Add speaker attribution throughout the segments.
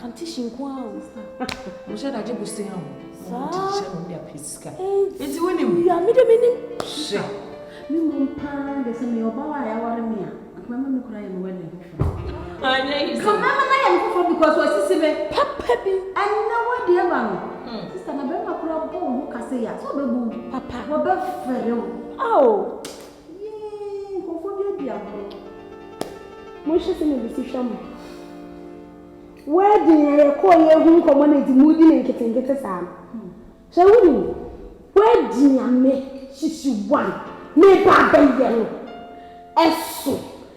Speaker 1: Kantehye nko ara o. Mo hyɛ
Speaker 2: dagye bosen a o. Saa. Mo ti hyɛ mo de
Speaker 1: apɛ sika.
Speaker 2: Eti wo nim. Ya mi de mi nim.
Speaker 1: Hyɛ.
Speaker 2: Mi mmom
Speaker 3: paa de sɛ meyɛ ɔbaa a yɛaware me a, anka mɛma me kura yɛ me wedding foforɔ. Anyɛ
Speaker 2: yi sɛ. Ka mɛma no ayɛ me foforɔ
Speaker 3: because wasisi me. Papa bi.
Speaker 1: Ɛnna wo deɛ
Speaker 3: ba no. Hmm. Sista na bɛrima kura bɔ wo ho ka sɛ ya sɛ ɔbɛbu. Papa. Wɔbɛfɛre wo. Ao. Yii nkurɔfoɔ bi adi agorɔ.
Speaker 4: Monhwɛ sɛdeɛ obi si hwɛ mo. Wedding a yɛkɔɔ yɛ hu nkɔmɔ na eti mudi ne nketenkete saa no. Hwɛ wo nim. Wedding a me hyehye one me ba bɛyɛ no ɛso.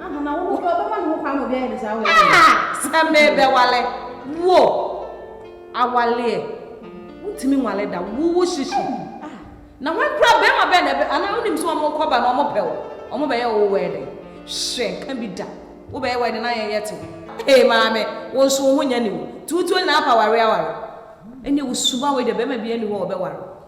Speaker 3: Ahana, wo bɛ ɔbɛma ne ho kwan ma obi ayɛ ne saa wɔ ɛdɛ. Sɛ
Speaker 2: mebɛwale wo awaleɛ wontumi nwale da wo wo hyehye na wɔn kura bɛrima bɛn na ɛbɛ anaa wonim sɛ wɔn kɔba na wɔn pɛ wo wɔn bɛyɛ wo wɔ ɛdɛ hwɛ nka bi da wo bɛyɛ wɔ ɛdɛ na yɛn yɛ te wo. Hey maame, wo nso wo ho nyɛ ne mu. Tuutuo nyinaa pa ware aware. Ɛnneɛ wo suban wei deɛ bɛrima bi ani hɔ ɔbɛware.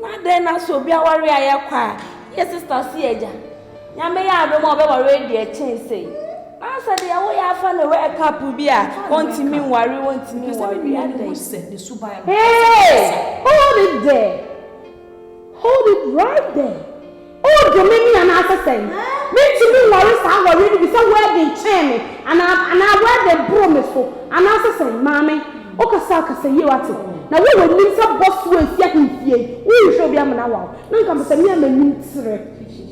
Speaker 1: Na adɛn na sɛ obi aware ayɛ kwa a, yɛ sista si agya? Nyame yɛ adom a ɔbɛware adi ɛkyɛn sei. Na sɛ deɛ wo yɛ afa no wɛ cup bi a, ɔntumi nware wo, ɔntumi nware adɛn?
Speaker 2: Hey!
Speaker 4: Hold it there! Hold it right there! O dɔ me ni anaasɛ sɛn? Mentumi nware saa awareɛ no bi sɛ wɛɛden kyɛn me anaa anaa wɛɛden boro me so anaasɛ sɛn? Maame, wokasa a kasa yie wate? Na wo a w'anim sɛ bɔsoɔ a ɛsi ahemfie yi, worenhwɛ obi amena wo awo? Na nka mepɛ me a m'anim trɛ,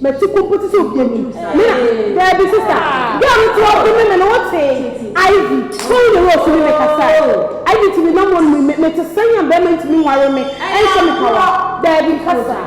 Speaker 4: m'ati ko mpo te sɛ obi anim, me na. Daabi sista, girl no te hɔ dome me no wotee? Ivy, kɔ wo ne Rose ne me kasa. Ivy te me nam hɔ no mu, me, mete sɛn a bɛɛma ntumi nware me ɛnhyɛ me kawa? Daabi nka saa.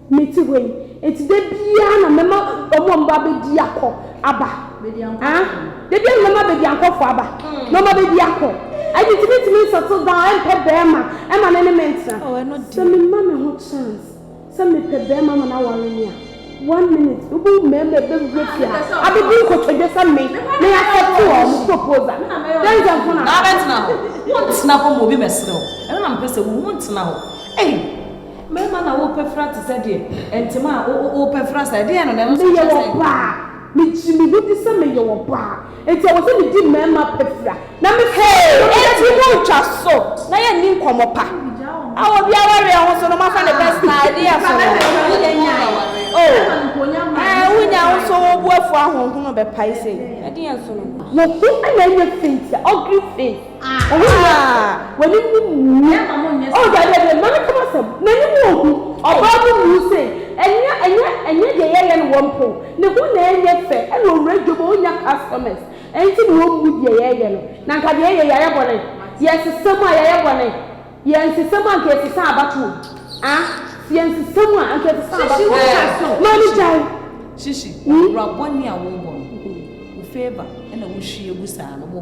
Speaker 4: Mete hɔ yi, enti da biara na mɛma wɔn a wɔbɛba abɛdi akɔ aba. Ah, da biara na mɛma abadiankɔfoɔ aba na wɔabɛdi akɔ. Ɛno nti mentumi nsettle down mpɛ barima ma ne ne me ntena. Oh, ɛno deɛ. Sɛ mema
Speaker 1: me ho
Speaker 4: chance sɛ mepɛ barima ma no aware me a, one minute wobɛhu mmarima a ɛbɛwura fie ha abɛdi nkotodwe sɛ me na yɛasɛte wɔn proposal. Dɛnkyɛmfo na. Na wobɛtena
Speaker 2: hɔ? Wontena hɔ ma obi mmɛsere wo. Ɛno na mepɛ sɛ wohu, wontena hɔ. Ei! Mɛma na wo pɛ fra te sɛ deɛ ɛntema a wo wo pɛ fra saa ɛdeɛn no na ɛno so kyɛ sɛ. Meyɛ ɔbaa
Speaker 4: me gye me ho di sɛ meyɛ ɔbaa enti ɛwɔ sɛ me di mɛma pɛ fra na me fra me ho te sɛ deɛ. Enti mo ntwa so na yɛ nni nkɔmɔ pa a obi awareɛ ho so no mo afa ne bɛ saa ɛdeɛn so no oh ɛɛ wo nya wo so wo bo afu ahonhono bɛ pae sei ɛdeɛn so no. Wo ho na ɛnyɛ fei tia ugly face. Owura! W'anim no mmu. Oh, daabi, daabi, mma menka m'asɛm. N'anim wɔ hu. Ɔbaa no mmuu sei. Ɛnyɛ, ɛnyɛ, ɛnyɛ deɛ yɛyɛ no wɔmpow. Ne ho na ɛnyɛ fɛ. Ɛna Owura Jomo ɔnnya customers. Ɛno nti na wɔmmu deɛ yɛyɛ no. Na anka deɛ yɛyɛ, yɛayɛ bɔne. Yɛsesa mu a, yɛayɛ bɔne. Yɛansesa mu a, anka yɛsesa abatoɔ. Ah, sɛ yɛansesa mu a, anka yɛsesa abatoɔ. Shishi, woka so. Maame, gyae. Shishi,
Speaker 2: ɔbra bɔne a worebɔ no, wo favour na wohwie gu saa no, wo.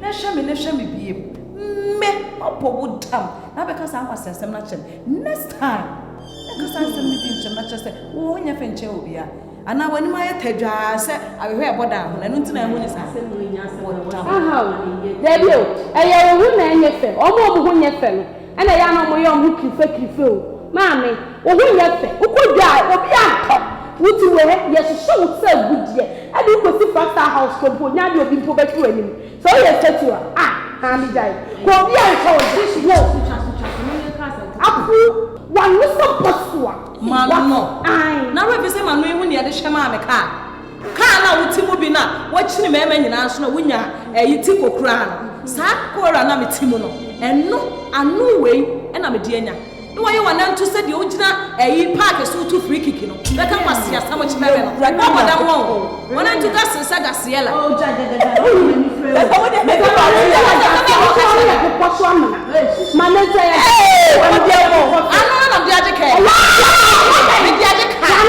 Speaker 2: Na hwɛ me, na hwɛ me biem. Me bɔbɔ wo dam na abɛka saa nkwaseasɛm no akyerɛ me. Next time, menka saa nsɛm no bio nkyerɛ me na kyerɛ sɛ wo ho nyɛ fɛ nkyɛn obiara. Anaa w'anim ayɛ tadwaa sɛ awehoa a ɛbɔ dan ho no, ɛno nti na ɛho nyɛ saa. Bɔ dam.
Speaker 4: Ahaw, daabi o, ɛyɛ wo ho na ɛnyɛ fɛ. Wɔn a wɔn ho nyɛ fɛ no, Ɛna ɛyɛ a na wɔyɛ wɔn ho kirifa kirifa o. Maame, wo ho nyɛ fɛ. Wokɔ dwa a, obiara ntɔ. Wo ti wɔ ha, yɛhyehyɛ wo sɛ agudeɛ. Ɛde wo kɔsi Five Star House kɔ mpo, ɔnnya adeɛ a obi mpo bɛhwe w'anim. Sɛ woyɛ statue a, ah, maame gyae. Kɔ a obiara ntɔ wo da. Wow! Apu, w'ano sɛ bɔsoa. M'ano?
Speaker 2: Aane. Ná w'abisa m'ano yi ho nea yɛde hyɛ maame kaa. Kaa no a wote mu bi no a wɔkyene mmarima nyinaa nso na wonya ɛyi ti kokoraa no. Saa kokoraa no a mete mu no, ɛno ano wei na mede anya. Na wɔayɛ wɔn nanto sɛ deɛ wogyina ɛyi paake so reto free kick no, bɛka kwaseasɛm kyerɛ me no. Wɔbɔ dam wɔn o. Wɔnanto gasee sɛ gaseɛla. Ano
Speaker 4: na mede agye
Speaker 2: kaa yi. Mede agye kaa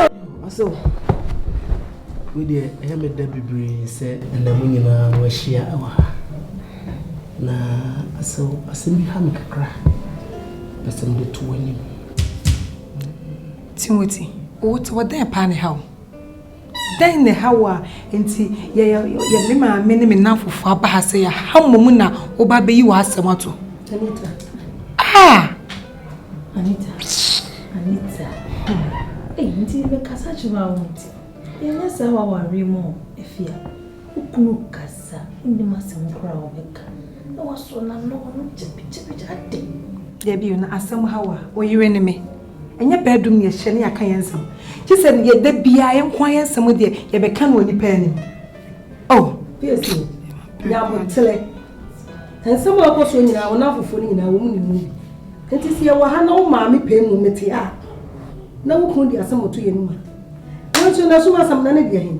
Speaker 5: yi. Ɔse wei deɛ ɛyɛ me dɛ bebree sɛ ɛnna mo nyinaa mo ahyia wɔ ha na asɛ asɛm bi ha me kakra pɛ sɛ mede to w'anim.
Speaker 6: Timothy, wote wɔ dɛn paa ne ha o? dɛn na ɛha wo a nti yɛyɛ me maame ne me nnamfofo aba ha sɛ yɛha mmom na woba bɛyi w'asɛm ato
Speaker 5: ah!
Speaker 3: Anita, Anita, ah, ei, nti mekasa kyerɛ a wontie. Yɛnyɛ saa wɔ awareɛ mu o, Afia. Wo kunu kasa, wonnim asɛm koraa a ɔbɛka. Na wasɔ n'ano, ɔno gyabegyabegya, adɛn? Dabi o, na
Speaker 6: asɛm ha wo a, wo yere ne me. Ɛnyɛ bɛɛdom na yɛhyia na yɛaka yɛn nsɛm. Gye sɛ deɛ da biara yɛnko ara yɛn nsɛm deɛ yɛbɛka no wɔ nnipa anim. Oh, PSC,
Speaker 3: nyabotere. Nsɛm a ɔkɔ so nyinaa, wɔn afoforɔ no nyinaa, wɔn ne mu bi. Nti sɛ yɛwɔ ha na wo maame pɛn mu mete a, na wo kunu de asɛm ɔto yɛn mu a. Nanso na so asɛm na ne deɛ he.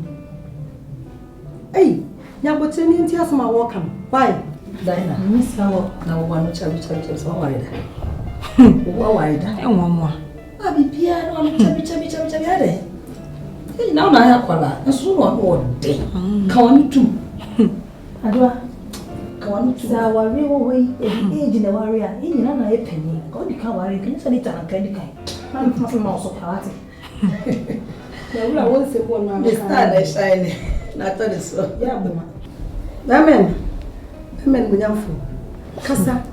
Speaker 3: Ei, nyabotere ne nti asɛm a wɔka no. Why? Diana, mmisa
Speaker 2: wɔ na wɔwɔ ano kyɛm kyɛm kyɛm sɛ wɔware da. Wɔware da. Ɛwɔ mmoa.
Speaker 6: A biribiara
Speaker 2: no ɔno kyabi kyabi kyabi kyabi adɛ ne nyinaa ɔna ayɛ akwara nso na ɔno ɔdɛ ka ɔno tum adewa ka ɔno tum. sɛ aware wɔ hɔ yi
Speaker 3: ebi age na ɛware a ne nyinaa na ayɛ panyin ka ɔdi ka aware nka ne sɛ ne ta na nka ne kan na ne tena sɛ ma ɔsɔ kwara ate.
Speaker 4: Na wura
Speaker 3: wo nsɛ bɔ no amka. Mr. na ɛhyɛn ne na atɔ ne so. Yɛ aboa. Amen. Amen munyamfo. Kasa.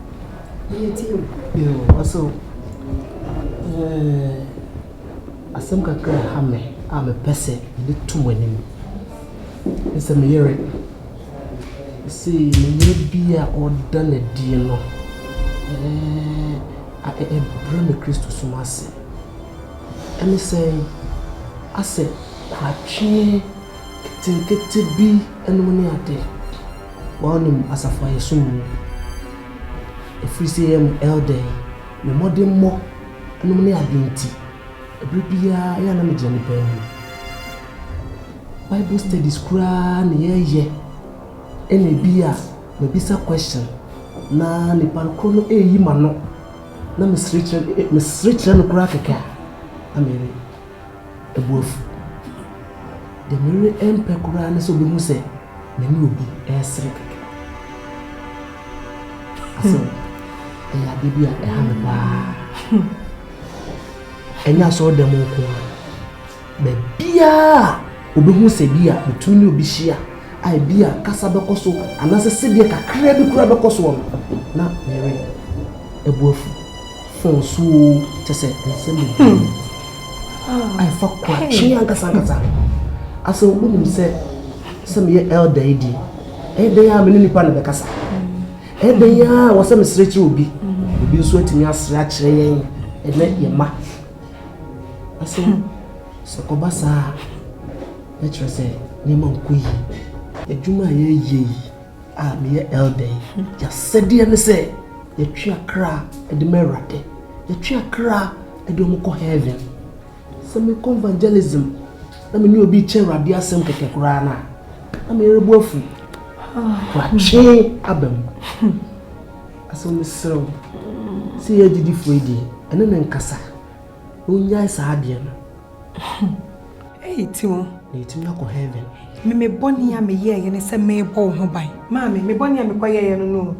Speaker 5: Yɛ tie o. Yo, ɔsɛ o. Eh, asɛm kakra ha me a mepɛ sɛ mede to mo anim. Ne sɛ me yere. Sɛ me yere bi a ɔda n'adie no. Eh, ɛbrɛ me Kristo som ase. Ɛne sɛn? Asɛ koratweɛ ketenkete bi nom ne adeɛ. Wa wo nim asafo a yɛsom mu. Ɛfiri sɛ yɛ mo elder yi, me mmɔdemmɔ nom ne adeɛ nti, ɛberɛ biara ɛyɛ a na me gyina ne pɛɛ mu. Bible studies koraa na yɛ yɛ, ɛna ɛbi a, mɛ bisa question, na nipa korɔ no ɛɛyi m'ano, Na mesere kyerɛ mesere kyerɛ no koraa kɛkɛ a, na me yere bo afu. Deɛ me yere mpɛ koraa ne sɛ ɔbɛhu sɛ me ne obi resere kɛkɛ. Asɛ ɛyɛ adeɛ bi a ɛha me paa. Ɛnyɛ asɔre dɛm nko ara. Baabiara a obehu sɛ bi a betumi ne obi hyia a ebi a kasa bɛkɔ so anaasɛ sedeɛ kakraa bi koraa bɛkɔ soɔ no, na ne yere bo afu. Fon so oo, kyerɛ sɛ nsɛm bebree a ɛfa koatwe ankasa ankasa ho. Asɛ wonim sɛ, sɛ meyɛ elder yi deɛ, ɛyɛ dɛn ara me ne nipa na bɛkasa? Ɛyɛ dɛn ara wɔ sɛ mesrɛ kyerɛ obi? Obi nso atumi asrɛ akyerɛ yɛn ne yɛn mma. Ɔse sɛ ɔba saa a na kyerɛ sɛ nneɛma nkɔ yie. Adwuma a yɛyɛ yi a meyɛ elder yi, yɛasɛdeɛ ne sɛ yɛtwe akra de ma Awurade, yɛtwe akra de wɔn kɔ heaven. Sɛ mekɔ evangelism na me ne obi rekyɛ Awurade asɛm kɛkɛ koraa no a, na me yere bo afu. Watwe aba mu. Asɛm mesrɛ wo sɛ yɛ agyidifoɔ yi deɛ ɛne ne nkasa na ɔnyae saa adeɛ no ɛyɛ ti
Speaker 6: wo na yɛtumi akɔ heaven
Speaker 5: me mebɔne a
Speaker 6: meyɛɛyɛ ne sɛ merebɔ wo ho ban maame mebɔne a mekɔyɛɛyɛ no no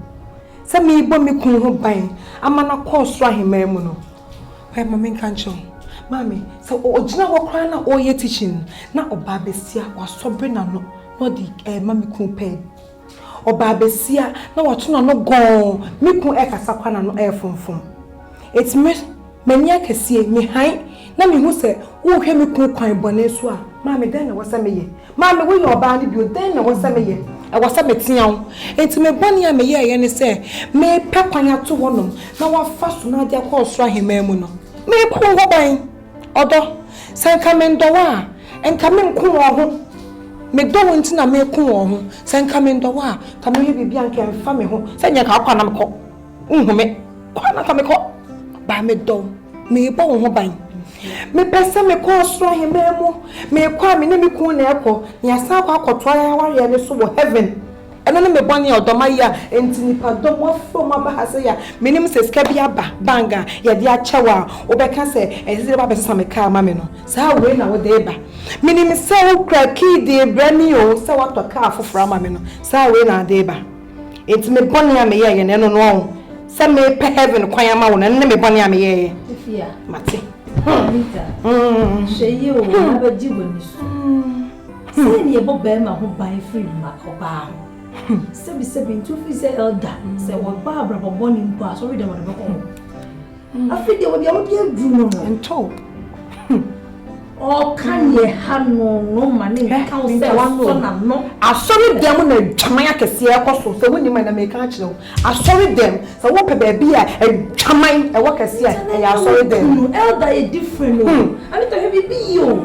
Speaker 6: sɛ merebɔ me kun ho ban ama no akɔ ɔsoro ahemmaa mu no hwɛ ma menka nkyerɛ wo maame sɛ ɔgyina hɔ koraa na ɔreyɛ teaching na ɔbaa bɛsia wasɔbre n'ano na ɔde ɛma me kun pɛɛ Ɔbaa basia na wato n'ano gɔɔn, me kun ɛkasa kwa n'ano ɛɛfomfom. Eti me, m'ani akɛseɛ, me hann, na me hu sɛ worehwɛ me kun kwan bɔne so a, maame dɛn na ɛwɔ sɛ meyɛ? Maame woyɛ ɔbaa no bio, dɛn na ɛwɔ sɛ meyɛ? Ɛwɔ sɛ metea wo. Enti me bɔne a meyɛɛeɛ ne sɛ merepɛ kwan ato hɔnom na wɔafa so no agye akɔ ɔsoro aheman mu no, merepa wo ho ban. Ɔdɔ, sɛ nka mendɔ wo a, nka menko wɔn ho. Medɔ wo nti na meko wɔn ho. Sɛ nka mendɔ wo a, nka mɛyɛ biribi a nka ɛmfa me ho. Sɛ nyɛ nka wokɔ a na mekɔ. Wonhu me kɔ a na nka mekɔ. Baa medɔ wo, merebɔ wo ho ban. Mepɛ sɛ mekɔ ɔsoro ahemman mu. Mekɔ a me ne me kunu na ɛkɔ. Na yɛasan akɔ akɔtoa yɛn awareɛ no so wɔ heaven. Ɛno ne me bɔne a ɔdɔ m'ayɛ a enti nnipa dɔm afrɛ mu aba ha sɛ ya. Menim sɛ sika bi aba bank a yɛde akyɛ wo a wobɛka sɛ ɛsɛ sɛ woba bɛsa me kaa ma me no. Saa wei na wode reba. Menim sɛ wokura key de rebrɛ me o sɛ woatɔ kaa foforɔ ama me no. Saa wei na wode reba. Enti me bɔne a meyɛeɛ no ɛno no ɔn. Sɛ merepɛ heaven kwan ama wo no ɛno ne me bɔne a meyɛeɛ. Mate.
Speaker 7: Anita, hwɛ yie o, na bɛgye w'ani so. Sɛn na yɛbɔ barima ho ban firi mma ɔbaa ho? Sɛbisɛbi nti wofiri sɛ elder sɛ wɔba abrabɔ bɔne mpo a asɔre dɛm ɔde bɛkɔ hɔ. Afei deɛ wɔde awode aduru no no. Nto. Ɔka neɛ ha no no ma ne nka wo sɛ ɔsɔ n'ano. Asɔre dɛm na
Speaker 6: adwaman akɛseɛ ɛkɔ so sɛ wonim a na meka akyerɛ wo. Asɔre dɛm sɛ wopɛ baabi a adwaman ɛwɔ kɛseɛ a ɛyɛ asɔre dɛm. Elder yɛ different
Speaker 7: o. Anita hwɛ biribi yi o.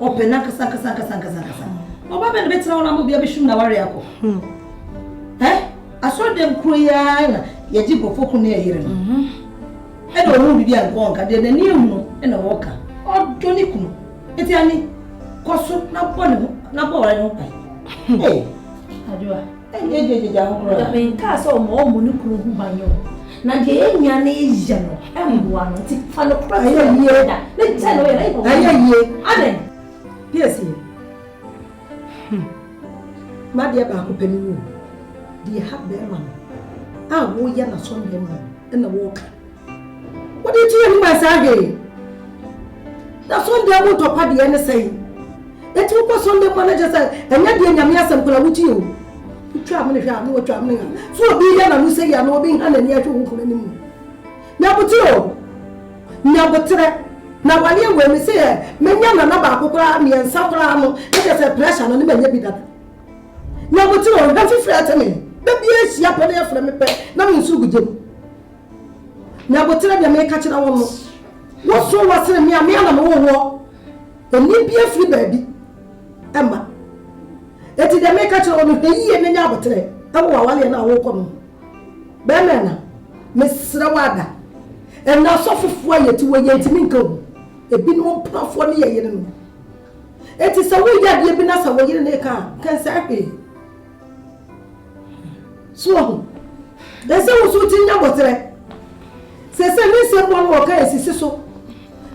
Speaker 3: Ɔpɛ n'ankasa ankasa ankasa ankasa ankasa. Ɔba bɛn na bɛtena hɔ na ama obi abɛhwim na ware akɔ? Hmm. Ɛ asɔre dɛm kuro yi ara na yɛgye nkurɔfoɔ ko ne ɛyere no. Mhm. Ɛna ɔhu biribi a nkɔɔ nka deɛ n'ani ehunu ɛna ɔɔka. Ɔdɔ ne kunu. Eti ani kɔ so na bɔ ne ho na bɔ aware ne ho ban. Hmm. Ee.
Speaker 7: Adwoa. Gyagyagyagya
Speaker 3: ho koraa. Nyame nkaa sɛ ɔma
Speaker 7: ɔmo ne kunu ho ban o. Na deɛ yɛnya ne yɛ no ɛmboa no nti fa no kora sɛ ɔyɛ da. Ne tɛ no yɛ na yɛ kɔkɔ. Ɛyɛ yie. Adɛn? Piesie.
Speaker 3: Hmm. M'adeɛ baako pɛ ne mu o. Deɛ ha bɛɛma no a woyɛ na sɔneɛ mu no ɛna wɔɔka. Wode gye anim a saa dee. Na Sunday mu tɔ pa deɛ ne sɛn? Eti wokɔ Sunday mu a na kyɛ sɛ ɛnyɛ deɛ Nyame asɛm koraa wotie o. Wotwa amene hwɛ a na watwa amene ha. So obi yɛ n'ano sɛ yi a na obi nha n'ani ahwɛ wo nkunu anim. Nyabotere o. Nyabotere. Na waleɛ wei me se ɛ menya nana baako koraa mmiɛnsa koraa no na kyɛ sɛ pressure no ne manya bi dada. Nyabotere o nha fifiri ɛte me. Da biara hyia pɛ na yɛfrɛ me pɛ na me nso gu gyam. Na botere deɛ meka kyerɛ wo no, woso wɔ sene me a me ana mewɔ woɔ. Ɛni bi afiri baabi ɛma. Ɛti deɛ meka kyerɛ wo no, hwɛ yie na nya abotere ɛwɔ wawaleɛ no a wokɔ no mu. Bɛɛma ɛna, mesrɛ wo ada. Ɛna asɔfofoɔ a yɛti wɔ yɛntimi nka o. Ɛbinom mprafoɔ ne yɛyere no. Ɛti sɛ woyɛ adeɛ bi na sɛ woyere no ka a, kɛnsɛɛ hwee. So wahu? Ɛsɛ wo so wogye nya boterɛ. Sɛ sɛ ne nsɛm bɔ no wɔka asisi so.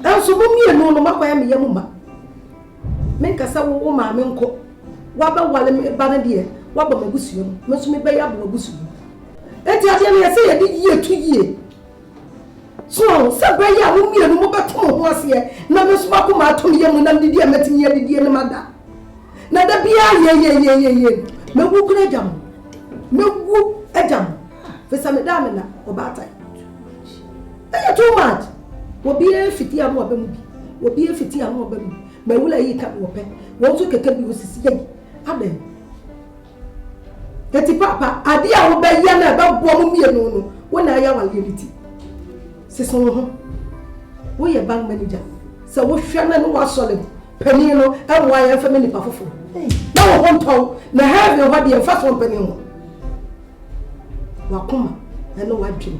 Speaker 3: Nanso mo mmienu no moakɔyɛ me yam ma. Menka sɛ wo wo maame nkɔ. Wabɛwale me ba no deɛ waba m'abusua mu. Me nso mebɛyɛ aba w'abusua mu. Enti adeɛ no ɛsɛ yɛde yie to yie. So ɔho sɛ bɛyɛ a mo mmienu mo bɛto mo ho aseɛ na me nso m'akoma ato me yɛmu nam didie a mɛtumi adidie no mada na da biara yeyeyeyeye mɛwu kora agya mo mɛwu agya mo firi sɛ meda me na ɔbaatan ɛyɛ too much obiara fiti ano aba mu bi obiara fiti ano aba mu bi mawula yi ka me wɔpɛ wɔn nso kɛkɛ bi osisi yɛyi adɛn Eti papa, ade a wobɛyɛ na ɛbɛboa mo mmienu no, wo na ɛyɛ awareɛ no ti. Sese wo ho. Woyɛ bank manager. Sɛ wohwɛ na ne wasɔre panin no, ɛmmoa yɛn mfa me nipa foforo. Na wo ho ntɔw, na heaven hɔ deɛ mfa so mpanin ho. Wakoma ɛne wadwene.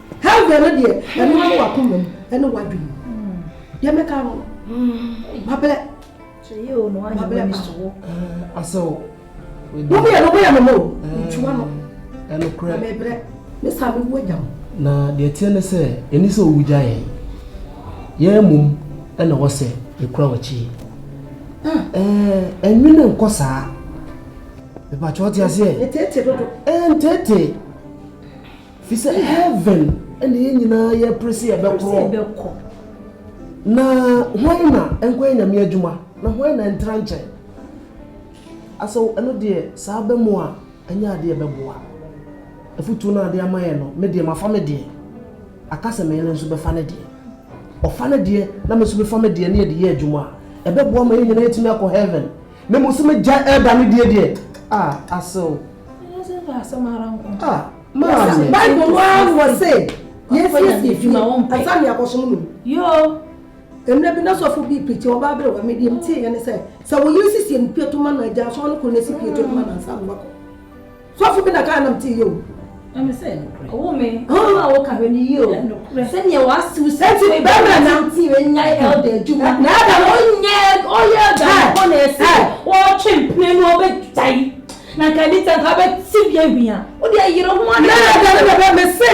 Speaker 3: Hellgate no deɛ ɛno ne wakoma mu ɛne wadwene mu deɛ mɛka no mabrɛ
Speaker 7: mabrɛ pa asɛw
Speaker 5: wo
Speaker 3: mmiɛ no bɛyɛ mama o ntwa no ɛnokorɛ
Speaker 5: mebrɛ ne
Speaker 3: saa mewu agya mo na deɛ teɛ ne
Speaker 5: sɛ ɛni sɛ owu gya yɛn yɛn mmom ɛna wɔ sɛ yɛkura w'akyi ɛnwene nkɔ saa mepakyɛ ɔte aseɛ
Speaker 3: ɛntete
Speaker 5: Fisɛ heaven na yɛn nyinaa yɛpre se yɛbɛkɔ. Na hwan na nkɔyɛ Nyame adwuma na hwan na ntra nkyɛn? Asɔw ɛno deɛ saa bɛ mo a ɛnyɛ adeɛ ɛbɛboa. Afutuo no a ade ama yɛn no me deɛ mafa me deɛ. Aka sɛ me yere nso bɛfa ne deɛ. Ɔfa ne deɛ na me nso mefa me deɛ na yɛde yɛ adwuma a ɛbɛboa ma yɛn nyinaa yɛtumi akɔ heaven. na mmom sɛ mɛgyae ɛreba no deɛ deɛ, a asew. Ah, maame. Bible no ara
Speaker 3: wɔ se yɛnsiesie fie ansa ne akɔsom no. Yoo.
Speaker 7: Mmerɛ bi
Speaker 3: na sɔfo bi pikyi ɔba aberewa me deɛ metie yɛ ne sɛ sɛ wo yere siesie ne pie to ma no agya asɔre no kɔ na si pie to ma no ansa ne wakɔ. Sɔfo bi na kaa nam ti yie o. Ɛmi sɛ nukurɛ.
Speaker 7: Ɔwɔ mi. Ɔwɔ a wɔka hwɛ ni yie o. Nukurɛ. Sɛdeɛ w'asew si. Ɛti ni bɛrɛ na. Ti yɛ nya ɛlda adwuma. Na ɛda na ɔnyɛ ɔyɛ ɛda ɔkɔ na ɛsi. Ɔtwe mpene mu ɔbɛ gya yi. Na nka ɛdi sɛ nka ɔbɛ ti bi awia. O deɛ yere ho adi. Na ɛda na bɛbɛ mi se.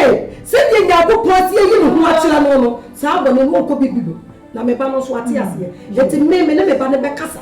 Speaker 3: Sɛdeɛ nyanko pɔn ati yɛ yi ni ho akyerɛ no no. Saa bɔ ne no ɔkɔ bi bi do. Na mi ba no nso ati aseɛ. Ɛti mi mi ne mi ba ne bɛ kasa.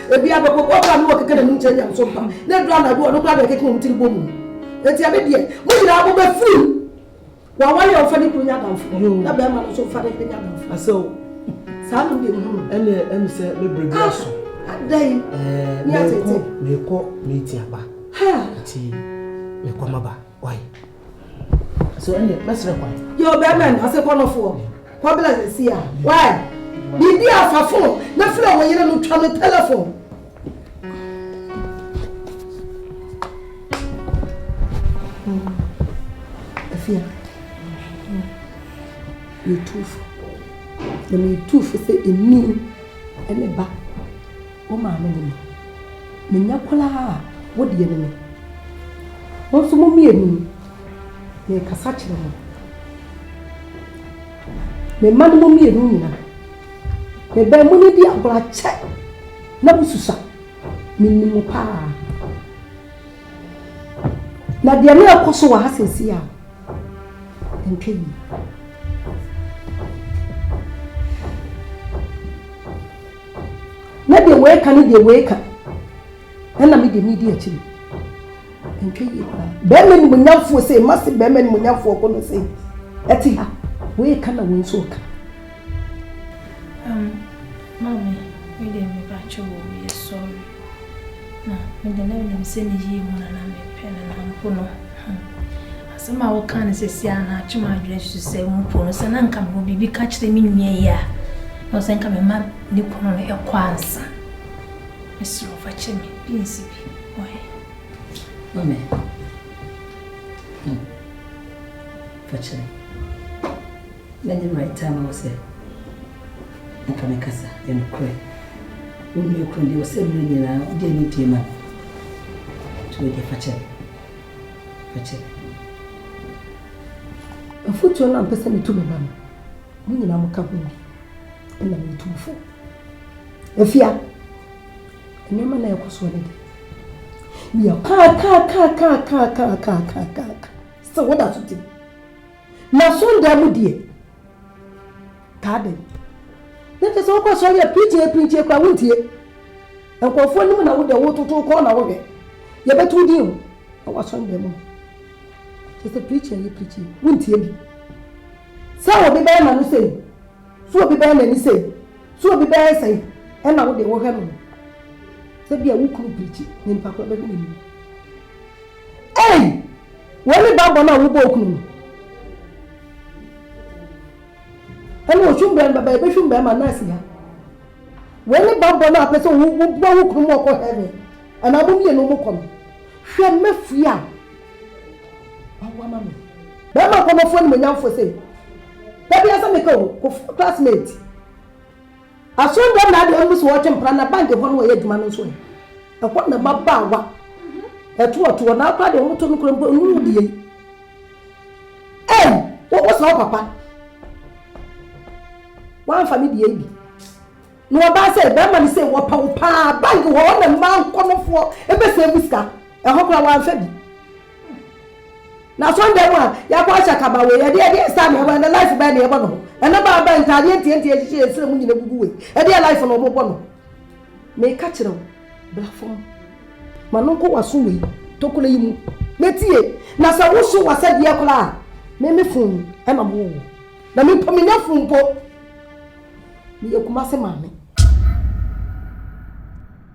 Speaker 3: Ebi a bɛkɔ bɔɔl a na wɔkeka n'anim kyerɛ nyamesom pa, na edu anadwo a ɔno koraa na ɛkeka wɔn tiri bɔ mu. Enti ɛne deɛ, mo nyinaa mobɛfiri mu. W'aware a ɔmfa ne kunu nyɛ adamfo, na barima no nso mfa ne yere nyɛ adamfo. Asɛ o.
Speaker 5: Saa no deɛ
Speaker 3: mehunu. Ɛne ɛne sɛ
Speaker 5: me bere bi aso. Adɛn? Ɛɛ,
Speaker 3: mekɔ, mekɔ
Speaker 5: meeting aba. Ha! Ti, mekɔ maba. So ɛnde mɛsrɛ kwan. Yɛ ɔbɛrima no ɔsɛ
Speaker 3: kɔnɔfoɔ kɔbla sisi a wae biribi a fa fon na frɛ wo yere no twa no telefon. Afia yɛtu fo na metu fo sɛ ɛni ɛne ba Wo maame ne me. Me nyɛ koraa a, wo deɛ ne me. Mo nso mo mmienu no, merekasa kyerɛ mo. Me mma no mo mmienu nyina. Me bɛn mo ne di agorɔ akyɛ na mo susa. Me nim mo paa. Na deɛ na ɛkɔ so wɔ ha sɛsi a, ɛntwa yie. na deɛ wei ka ne deɛ wei ka ɛna me deɛ medi akyiri ɛntwa yie koraa bɛrima ni mo nyamfoɔ sɛ ma se bɛrima ni mo nyamfoɔ kɔ no sɛ ɛte ha wei ka na wɔn nso ka. Um, maame,
Speaker 7: me deɛ me ba kyɛ wɔ yɛ sɔre. Na me de, na onim sɛ meyii mu na na mepɛ no, na mpo no, hmm, asɛm a wokaa no seesei ara na atwe m'adwene susu sɛ mpo no, sɛ na anka mewɔ biribi ka kyerɛ me nua yi a, na ɔsɛ nka mema ne kunu no ɛkɔ ansa. Mesrɛ wo, fa kyɛ me, bi nsi bi, ɔhe.
Speaker 8: Mame, hmm, fa kyɛ me. Mɛnyɛ right time wɔ sɛ. Anka mɛkasa, ɛyɛ nokorɛ. Wo nua kunu deɛ, ɔsɛ mmerɛ nyinaa wode anidie ma no. Nti wei deɛ, fa kyɛ me. Fa kyɛ
Speaker 3: me. Mfuturo no a mpɛ sɛ metu me ba no, mo nyinaa moka ho bi. Ɛna metu mo fo. Afia, nneɛma na ɛkɔ soɔ no de. Meyɛ kaakaakaakaakaakaakaaka sɛ woda so te. Na sondaa mu deɛ, Taa dɛn? Na kyɛ sɛ wokɔ sɔre a pirikyie pirikyie koraa wontie. Nkurɔfoɔ anim na wodɛ wototo kɔn na wohwɛ. Yɛbɛto wo din o. Ɛwɔ asɔre dan mu no. Kyɛ sɛ pirikyie yɛ pirikyie wontie bi. Sɛ obi bɛyɛ n'ano sei, sɛ obi bɛyɛ n'ani sei, sɛ obi bɛyɛ sɛi, ɛna wode wohwɛ no. Sɛ bia wo kunu pirikyi na nipa koraa bɛhwɛ n'anim. Ei! Wei ne ba bɔ no a wobɔ wo kunu no. ɛna ɔhwim bɛn bɛbɛ ɛbɛhwim bɛn ma nurse ya wei ne bammɔ no a pɛ sɛ wobua wo kunu mu ɔkɔ heaven anaa mo mmienu mo kɔ no hwɛ mɛfui a wawa ma me bɛrima nkɔmmɔfoɔ animonyamfoɔ sɛ da bi asɛ meka o classmate Aso dɛm na adɛn mpo sɛ wɔtwe mpena na bank hɔ na wɔyɛ adwuma no nso ɛ? Ɛhɔ na mmabaawa ɛtoɔtoɔ na akora deɛ wɔn to no kora mpo nnuru deɛ yi. Ei! Wo wo sɛ wo papa wɔamfa ne deɛ yi bi na wɔbaa sɛ bɛrima no sɛ wɔpɛ wo paa bank hɔ na mmaa nkɔnɔfoɔ ɛbɛsɛ mu sika ɛhɔ kora wɔamfa bi. Na so ndɛ mu a yɛabɔ ahyɛ akaba wei, ɛdeɛ ɛdeɛ nsa na ɛbɔ, ɛnɛ life bɛn na yɛbɔ no ho? Ɛnɛ baa bɛn ntaadeɛ ntiantia ɛhyehyɛ yɛn srɛ mu nyina gugu wei, ɛdeɛ life na ɔmo bɔ no ho? Meka kyerɛ wo, bra fam, ma no nkɔ w'aso wei tokuro yi mu na tie, na sɛ wo so w'asɛdeɛ koraa a, me me fon ɛna mo wɔ wɔ, na me mpo menya fon mpo, meyɛ Kumasi maame.